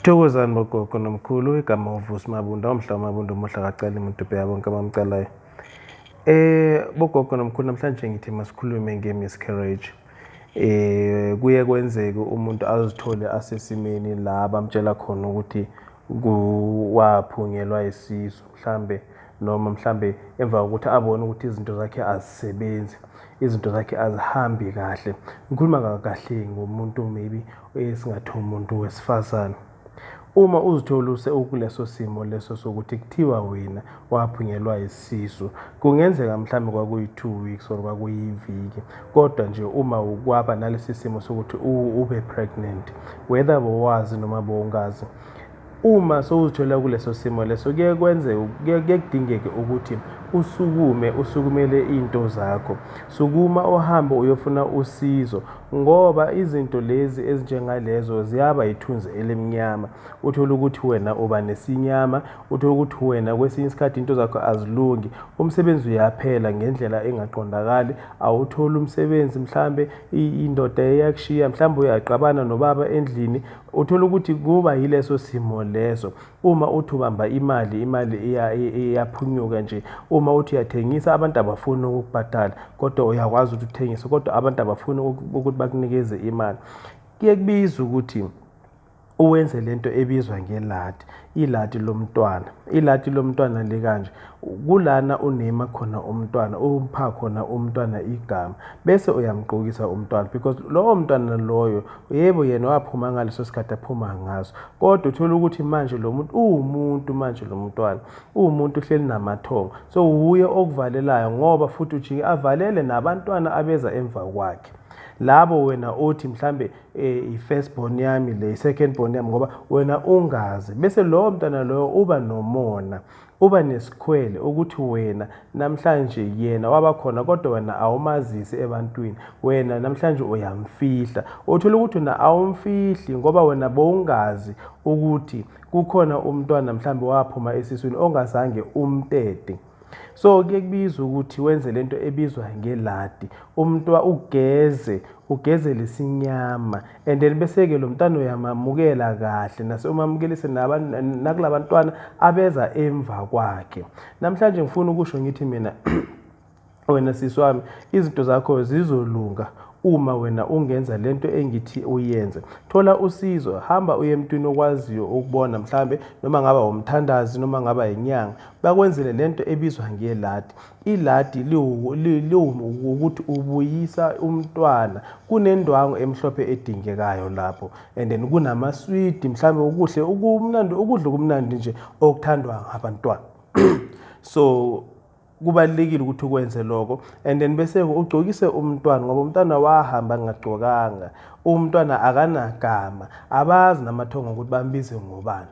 Thokozani bogogo nomkhulu igama uvusi mabunda umhla umabunda umuhla kacala umuntu ubheka bonke abamcalayo eh bogogo nomkhulu namhlanje ngithi masikhulume nge-miscarriage eh kuye kwenzeke umuntu azithole asesimeni la bamtshela khona ukuthi waphungelwa isisu mhlambe noma mhlambe emva kokuthi abone ukuthi izinto zakhe azisebenzi izinto zakhe azihambi kahle ngikhuluma kahle ngomuntu maybe esingathi umuntu wesifazane uma uzithola use ukuleso simo leso sokuthi kuthiwa wena waphunyelwa isisu kungenzeka mhlawumbe kwakuyi-two weeks or kwakuyiviki kodwa nje uma kwaba nalesi simo sokuthi ube pregnant whether bowazi noma bowungazi Uma sowuzithola kuleso simo leso kuye kwenze kuye kudingeke ukuthi usukume usukumele into zakho sukuma uhambe uyofuna usizo ngoba izinto lezi ezinjengalezo ziyaba yithunzi elimnyama uthole ukuthi wena uba nesinyama uthole ukuthi wena kwesinye isikhathi into zakho azilungi umsebenzi uyaphela ngendlela engaqondakali awutholi umsebenzi mhlambe indoda eyakushiya mhlambe uyaqabana nobaba endlini Uthola ukuthi kuba yileso simo leso. Uma uthi ubamba imali, imali iyaphunyuka nje. Uma uthi uyathengisa, abantu abafuni ukukubhadala, kodwa uyakwazi ukuthi uthengise, kodwa abantu abafuni ukuthi bakunikeze imali. Kuye kubize ukuthi uwenze lento ebizwa ngeladi. ilati lomntwana ilati lomntwana likanje kulana unema khona umntwana umpha khona umntwana igama bese uyamgqokisa umntwana because lowo mntwana loyo yebo yena waphuma ngaleso sikhathi aphuma ngaso kodwa uthola ukuthi manje lo muntu uwumuntu manje lo mntwana uwumuntu uhleli namathongo so wuye okuvalelayo ngoba futhi ujike avalele nabantwana abeza emva kwakhe labo wena othi mhlambe eh, i-first born yami le i-second born yami ngoba wena ungazi bese lowo mntana loyo uba nomona uba nesikhwele ukuthi wena namhlanje yena waba khona kodwa wena awumazisi ebantwini wena namhlanje uyamfihla uthole ukuthi wena awumfihli ngoba wena bowungazi ukuthi kukhona umntwana mhlawumbe waphuma esiswini ongazange umtete so kuye kubizwa ukuthi wenze lento ebizwa ngeladi umntwa ugeze ugeze lesinyama and then bese-ke lo mntwana uyamamukela kahle nase umamukelise nakula bantwana abeza emva kwakhe namhlanje ngifuna ukusho ngithi mina wena sisi wami izinto zakho zizolunga uma wena ungenza lento engithi uyenze thola usizo hamba uye emntwini okwaziyo ukubona mhlambe noma ngaba umthandazi noma ngaba inyanga bakwenzele lento ebizwa ngeladi iladi liwukuthi ubuyisa umntwana kunendwangu emhlophe edingekayo lapho and then kunamaswidi mhlawumbe ukuhle ukumnandi ukudla okumnandi nje okuthandwa ngabantwana so kubalekile ukuthi ukwenze lokho and then bese ugcokise umntwana ngoba umntwana wahamba ngagcokanga umntwana akanagama abazi namathongo ukuthi bambize ngobani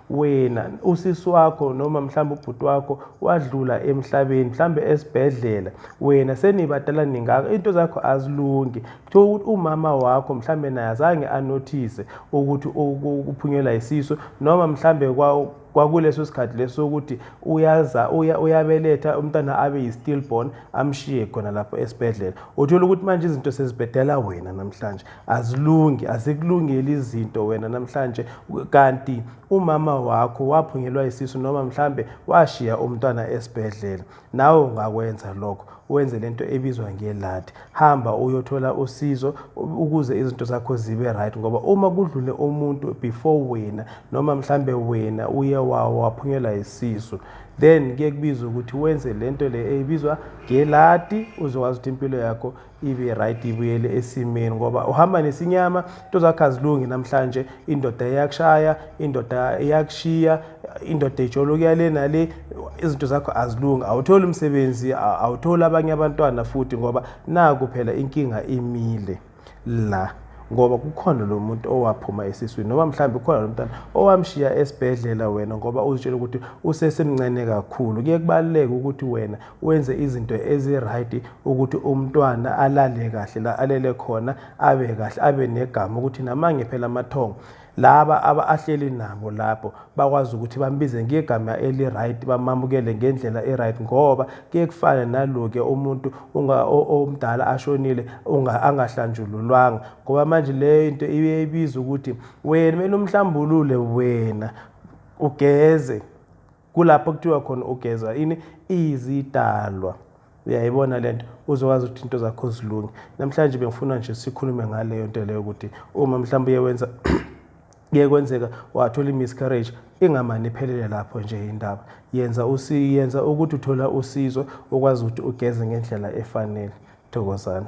wena usisi wakho noma mhlawumbe ubhuti wakho wadlula emhlabeni mhlawumbe esibhedlela wena senibadala ningaka into zakho azilungi kuthiwa ukuthi umama wakho mhlawumbe naye azange anothise ukuthi uphunyelwa isisu noma mhlawumbe kwakuleso sikhathi leso ukuthi uyaza uya uyabeletha umntana abe yi-stillborn amshiye khona lapho esibhedlela uthola ukuthi manje izinto sezibhedela wena namhlanje azilungi azikulungeli izinto wena namhlanje kanti umama wakho waphungelwa isisu noma mhlambe washiya umntwana esibhedlela nawe ungakwenza lokho wenze lento ebizwa ngeladi hamba uyothola usizo ukuze izinto zakho zibe right ngoba uma kudlule umuntu before wena noma mhlambe wena uye wawo waphunyelwa isisu then kuye kubizwe ukuthi wenze lento le ebizwa ngeladi uzokwazi ukuthi impilo yakho ibe right ibuyele esimeni ngoba uhamba nesinyama into zakhe azilungi namhlanje indoda iyakushaya indoda iyakushiya indoda ijolo kuyale nale izinto zakho azilungi awutholi umsebenzi awutholi abanye abantwana futhi ngoba naku phela inkinga imile la ngoba kukhona lo muntu owaphuma esiswini noma mhlawumbe kukhona lo mntana owamshiya esibhedlela wena ngoba uzitshela ukuthi usesemncane kakhulu kuye kubaluleke ukuthi wena wenze izinto eziright ukuthi umntwana alale kahle la alele khona abe kahle abe negama ukuthi namange phela amathongo laba aba ahleli nabo lapho bakwazi ukuthi bambize ngegama eli-right bamamukele ngendlela e-right ngoba kuye kufane nalo-ke umuntu omdala ashonile angahlanjululwanga ngoba manje leyo into iye ibiza ukuthi wena kumele umhlambulule wena ugeze kulapho kuthiwa khona ugeza ini izidalwa uyayibona le nto uzokwazi ukuthi into zakho zilunge namhlanje bengifuna nje sikhulume ngaleyo nto leyo ukuthi uma mhlawumbe uye wenza kuye kwenzeka wathola i-miscarriage ingamane iphelele lapho nje indaba yenza usiyenza ukuthi uthola usizo ukwazi ukuthi ugeze ngendlela efanele thokozana